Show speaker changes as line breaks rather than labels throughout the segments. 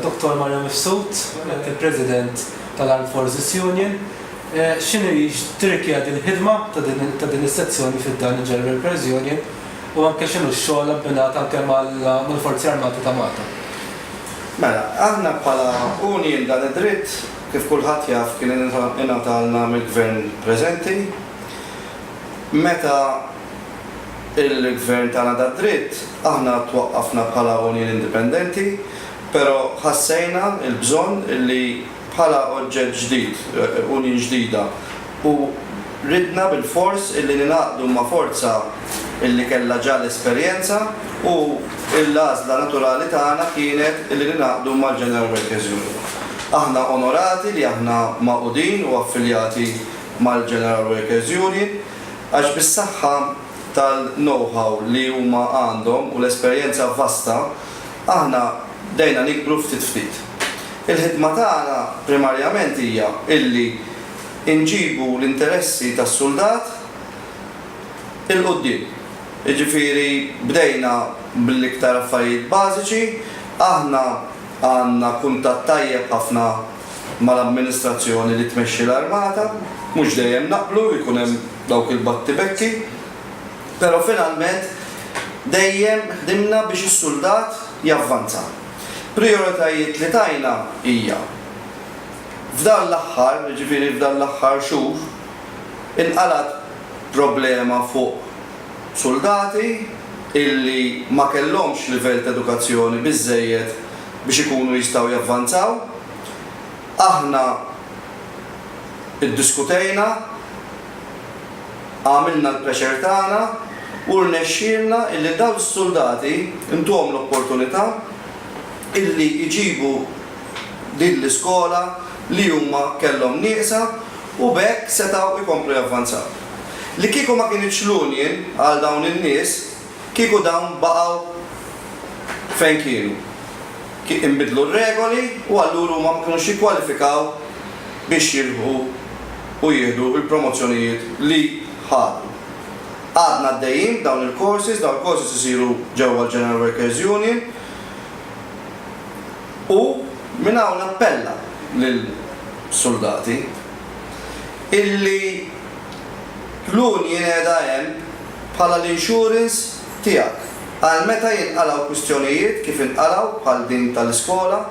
Dottor Mario Mifsud, il-President tal-Armed Forces Union, x'inhi li tirrikjedi l-ħidma ta' din is-sezzjoni fi ħdan il-General Affairs Union u anke x'inhu x-xogħol abbinat anke mal-Forzi Armati ta' Malta? Mela,
aħna bħala union dan id-dritt, kif kulħadd jaf, kien ingħatalna mill-Gvern preżenti meta, Il-Gvern tana da dritt, aħna twaqqafna bħala union indipendenti, pero ħassejna il-bżonn li bħala oġġett ġdid, union ġdida, u ridna bil-fors li ningħaqdu ma' forza li kellha ġa l-esperjenza u l-għażla naturali tagħna kienet li ningħaqdu mal-General Workers Union. Aħna onorati li aħna magħqudin u affiljati mal-General Workers Union. għax bis-saħħa tal-know-how li huma għandhom u l-esperjenza vasta, aħna bdejna nikbru ftit ftit. Il-ħidma tagħna primarjament hija illi nġibu l-interessi tas-suldat 'il quddiem. Jiġifieri bdejna bl-iktar affarijiet bażiċi, aħna għandna kuntatt tajjeb ħafna, mal-amministrazzjoni li tmexxi l-armata, mhux dejjem naqblu, jkun hemm dawk il-battibekki, pero' finalment dejjem ħdimna biex is-suldat javvanza. Prijoritajiet li tajna hija, f'dan l-aħħar, jiġifieri f'dan l-aħħar xhur, inqalgħet problema fuq suldati illi ma kellhomx livell t'edukazzjoni biżżejjed, biex ikunu jistgħu javvanzaw. Aħna iddiskutejna, għamilna l-pressure tagħna u rnexxielna illi dawn is-suldati ntuhom l-opportunità illi jġibu din l-iskola li huma kellhom nieqsa u b'hekk setgħu jkomplu javvanzaw. Li kieku ma kinitx l-union għal dawn in-nies, Kieku dawn baqgħu fejn kienu, kien inbidlu r-regoli u allura huma ma kinux jikkwalifikaw biex jirbħu u jieħdu l-promozzjonijiet li ħadu. Għadna għaddejjin b'dawn il-courses, dawn il-courses isiru ġewwa l-General Workers Union u minn hawn nappella lill-suldati illi l-union qiegħda hemm, bħala l-insurance tiegħek għal meta jinqalgħu kwistjonijiet kif inqalgħu bħal din tal-iskola,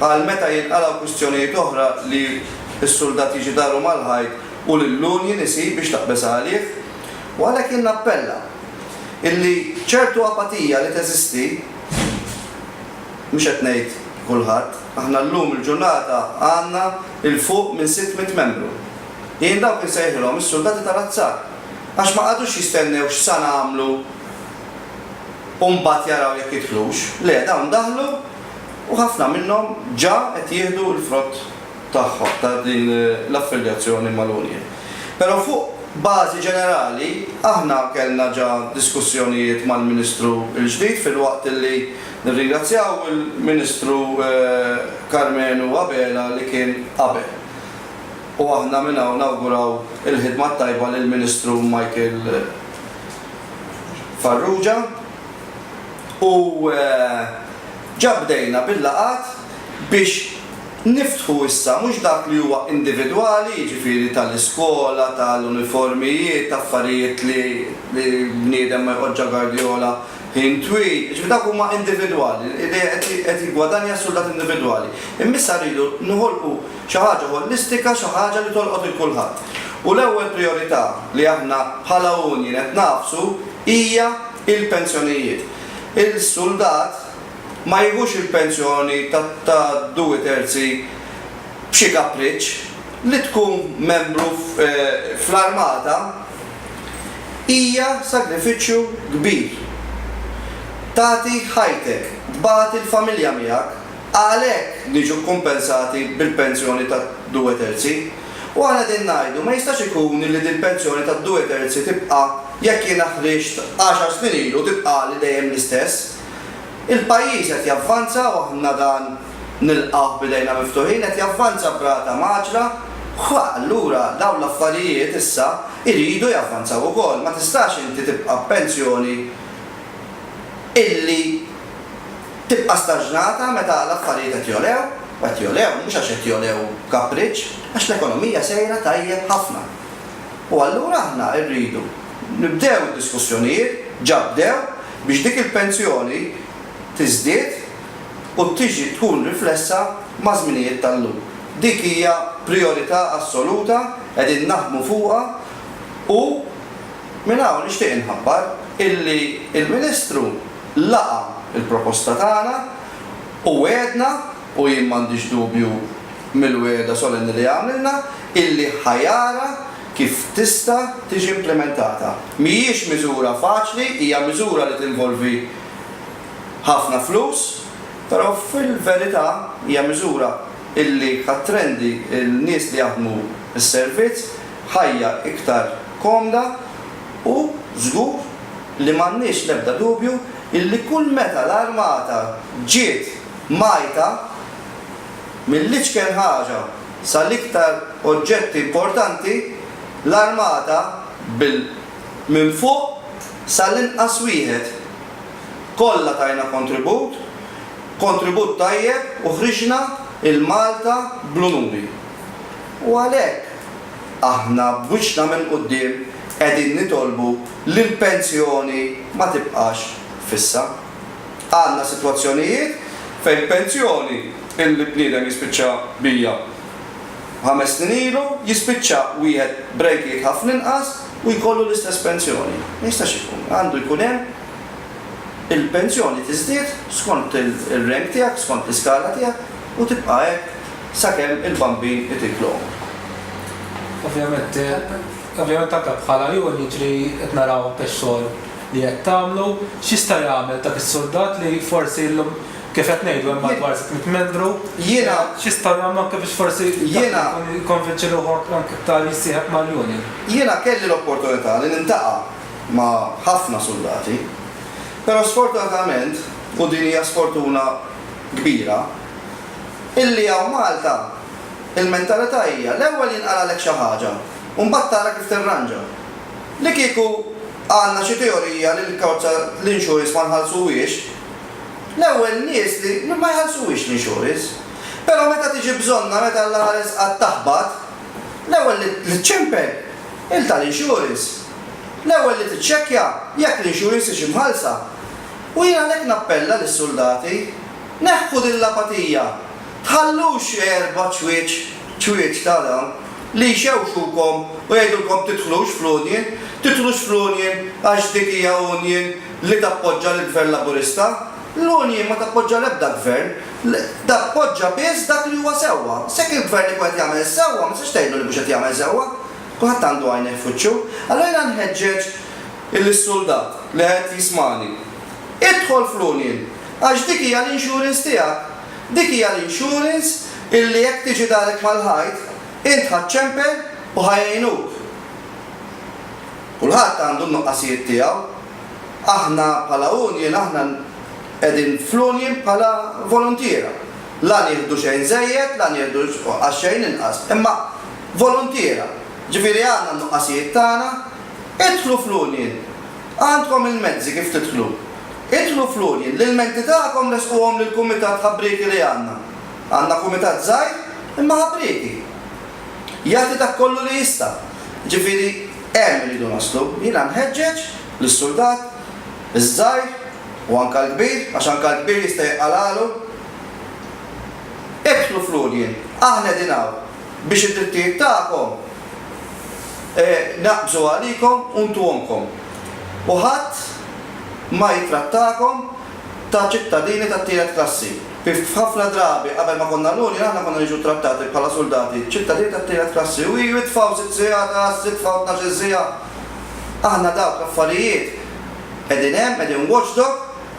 għal meta jinqalgħu kwistjonijiet oħra li s-suldat jiġi daru mal-ħajt u lill-union isib biex taqbeż għalih. U għalhekk jien nappella illi ċertu apatija li teżisti, mhux qed ngħid kulħadd, aħna llum il-ġurnata għandna 'l fuq minn sitt mitt membru, jien dawk insejħilhom is-suldati tal-azzar. għax ma qagħdux jistennew x'sa nagħmlu u mbagħad jaraw jekk jidħlux, le dawn daħlu u ħafna minnhom ġa qed jieħdu l-frott tagħhom ta' din l-affiljazzjoni mal-union. Però fuq bażi ġenerali aħna kellna ġa diskussjonijiet mal-Ministru l-ġdid filwaqt li nirringrazzjaw il-Ministru Karmenu Abela li kien qabel. u aħna minn hawn nawguraw il-ħidma t-tajba lill-Ministru Michael Farrugia u ġa bdejna bil-laqgħat biex niftħu issa mhux dak li huwa individwali, jiġifieri tal-iskola, tal-uniformijiet, affarijiet li bniedem ma jqgħodx gardjola ħin twil, jiġifieri dawk huma individwali, qed jiggwadanja s-suldat individwali, imma issa rridu noħolqu Xi ħaġa ħolistika, xi ħaġa li tolqot 'il kulħadd. U l-ewwel prijorità li aħna bħala union qed nagħfsu hija l-pensjonijiet. Il-suldat ma jieħux il-pensjoni ta' due terzi b'xi kapriċċ. Li tkun membru fl-armata hija sagrifiċċju kbir. Tagħti ħajtek, tbati l-familja miegħek. Għalhekk niġu kkumpensati bil-pensjoni ta' due terzi. U aħna qegħdin ngħidu, ma jistax ikun li dil-pensjoni ta' due terzi tibqa' jekk jiena ħriġt għaxar snin ilu tibqagħli dejjem l-istess. Il-pajjiż qed javvanza u aħna dan nilqgħuh b'idejna miftuħin, qed javvanza b'rata mgħaġġla, allura dawn l-affarijiet issa jridu javvanzaw ukoll. Ma tistax inti tibqa' b'pensjoni illi. Tibqa' staġnata meta l-affarijiet qed jogħlew, u qed jogħlew mhux għax qed jogħlew b'kapriċċ, għax l-ekonomija sejra tajjeb ħafna. U allura aħna rridu nibdew id-diskussjonijiet, ġa bdew, biex dik il-pensjoni tiżdied u tiġi tkun riflessa maż-żminijiet tal-lum. Dik hija prijorità assoluta, qegħdin naħdmu fuqha u minn hawn nixtieq inħabbar illi l-Ministru laqa' l-proposta tagħna u wegħedna, u jien m'għandix dubju mill-wegħda solenni li għamilna, illi ħa jara kif tista' tiġi implimentata. Mhijiex miżura faċli, hija miżura li tinvolvi ħafna flus, però fil-verità hija miżura illi ħa ttrendi l-nies li jaħdmu s-servizz ħajja iktar komda, u żgur li m'għandniex l-ebda dubju illi kull meta l-Armata ġiet mgħajta, mill-iċken ħaġa sal-iktar oġġetti importanti, l-Armata bil minn fuq sal-inqas wieħed, kollha tajna kontribut, kontribut tajjeb u ħriġna 'l Malta bl-unuri. U għalhekk. Aħna b'wiċċna minn quddiem qegħdin nitolbu li l-pensjoni ma tibqax fissa. Għandna sitwazzjonijiet fejn pensjoni li bniedem jispiċċa bija ħames snin ilu jispiċċa wieħed b'rejtijiet ħafna inqas u jkollu l-istess pensjoni. Ma jistax ikun. Għandu jkun hemm il-pensjoni tiżdied skont ir-rank tiegħek, skont l-iskala tiegħek u tibqa' hekk. sakemm il-bambin itik l-għumr. Ovvjament,
ovvjament anke bħala għajun jiġri qed naraw anke x-xogħol li qed tagħmlu. X'jista' jagħmel dak is-suldat li forsi llum kif qed ngħidu hemm madwar 600 membru, Jiena, x'jistgħu jagħmlu anke biex forsi jiena, jikkonvinċi ruħu anke anke iktar jissieħeb mal-union? Jiena kelli
l-opportunità li niltaqa' ma' ħafna suldati, però sfortunatament, u din hija sfortuna kbira, illi hawn Malta il-mentalità hija l-ewwel jinqalgħalek xi ħaġa u mbagħad tara kif tirranġa. Li kieku għandna xi teorija li l-karozza l-insurance ma nħallsuhiex, l-ewwel nies li ma jħallsuhiex l-insurance. Però meta tiġi bżonnha, meta Alla ħares qatt taħbat, l-ewwel li ċċempel il tal-insurance. L-ewwel li tiċċekkja jekk l-insurance hix imħallsa. U jien għalhekk nappella lis-suldati. Neħħu din l-apatija. Tħallux erba' ċwieċ ċwieċ ta' dawn li jxewxukom u jgħidulkom tidħlux fl-union, tidħlux fl-union għax dik hija union li tappoġġa lill-Gvern Laburista. L-union ma tappoġġa l-ebda Gvern. Tappoġġa biss dak li huwa sewwa. Se jekk il-Gvern ikun qed jagħmel is-sewwa, ma tistax tgħidlu li mhux qed jagħmel sewwa. Kulħadd għandu għajnejh f'wiċċu. Allura jiena nħeġġeġ lis-suldat li qed jismagħni. Idħol fl-union. Għax dik hija l-insurance tiegħek. Dik hija l-insurance illi jekk tiġi darek mal-ħajt, int ħa ċċempel u ħa jgħinuk. Kulħadd għandu n-nuqqasijiet tiegħu. Aħna bħala union aħna qegħdin fl-union bħala voluntiera. La nieħdu xejn żejjed, la nieħdu għax-xejn inqas. Imma voluntiera. Ġifieri għandna n-nuqqasijiet tagħna. Idħlu fl-union Għandkom il-mezzi kif tidħlu. Idħlu fl-għoljen, l-ilmenti tagħkom ressquhom lill-kumitat ħabrieki li għandna. Għandna kumitat żgħir, imma ħabrieki. Jagħti dak kollu li jista'. Ġifieri, hemm irridu naslu. Jiena nħeġġeġ lis-suldat, iż-żgħir u anke l-kbir, għax anke l-kbir jista' jiqqalagħlu. Idħlu fl-għoljen, aħna qegħdin hawn. Biex id-drittijiet tagħkom jnaqqsu għalikom u ntuhomkom, u ħadd ma jittrattakom ta' ċittadini tat-tielet klassi. Ħafna drabi, qabel ma konna l-Union, aħna konna niġu ttrattati bħala suldati, ċittadini tat-tielet klassi. U hi jitfgħu sitt sigħat għal sitħa u tnax-il siegħa. Aħna dawk l-affarijiet qegħdin hemm, qegħdin watchdog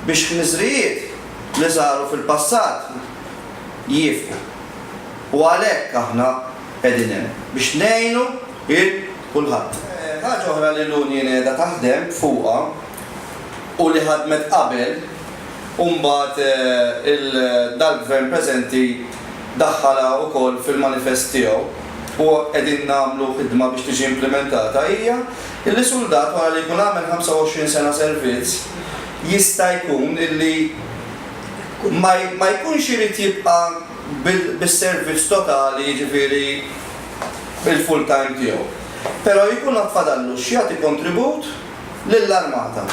biex ħniżrijiet li saru fil-passat jieqfu. U għalhekk aħna qegħdin hemm, biex ngħinu lil kulħadd. Ħaġa oħra li l-union qiegħda taħdem fuqha u li ħadmet qabel u mbagħad dal-Gvern preżenti daħħalha wkoll fil-manifest tiegħu u qegħdin nagħmlu ħidma biex tiġi implimentata hija li suldat wara li jkun għamel 25 sena servizz jista' jkun li ma jkunx irid jibqa' bis-servizz totali jiġifieri l-full time tiegħu. Però jkun għad fadallu x'jagħti kontribut lill-armata.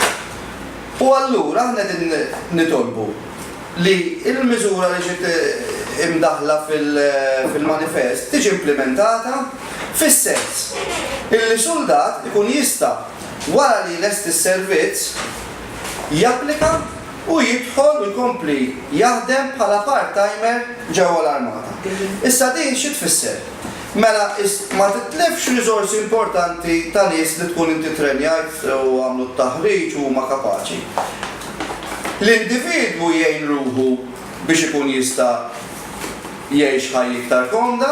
U allura aħna qegħdin nitolbu li l-miżura li ġiet imdaħħla fil-manifest tiġi implimentata fis-sens illi suldat ikun jista' wara li jlesti s-servizz japplika Hu jidħol u jkompli jaħdem bħala part-timer ġewwa l-Armata. Issa din xi tfisser? Mela is ma titlifx riżorsi importanti ta' nies li tkun inti ttrenjajt u għamlu t-taħriġ u huma kapaċi. L-individwu jgħin ruħu biex ikun jista' jgħix ħajja iktar komda,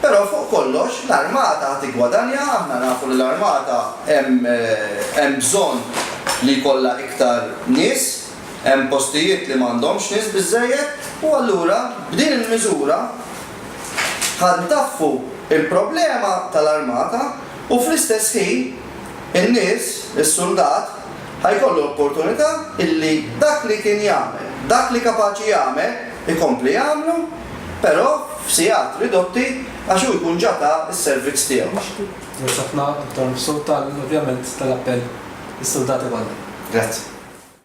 però fuq kollox l-armata ħa tiggwadanja, aħna nafu li l-armata hemm hemm bżonn li jkollha iktar nies, hemm postijiet li m'għandhomx nies biżżejjed u allura b'din il-miżura ħa ntaffu l-problema tal-armata u fl-istess ħin, in-nies, is-suldat, ħa jkollu l-opportunità illi dak li kien jagħmel, dak li kapaċi jagħmel, ikompli jagħmlu, però f'sigħat ridotti għax hu jkun ġa ta s-servizz tiegħu. Grazzi ħafna,
Dottor Mifsud, tal, ovvjament, tal-appell lis-suldati kollha. Grazzi.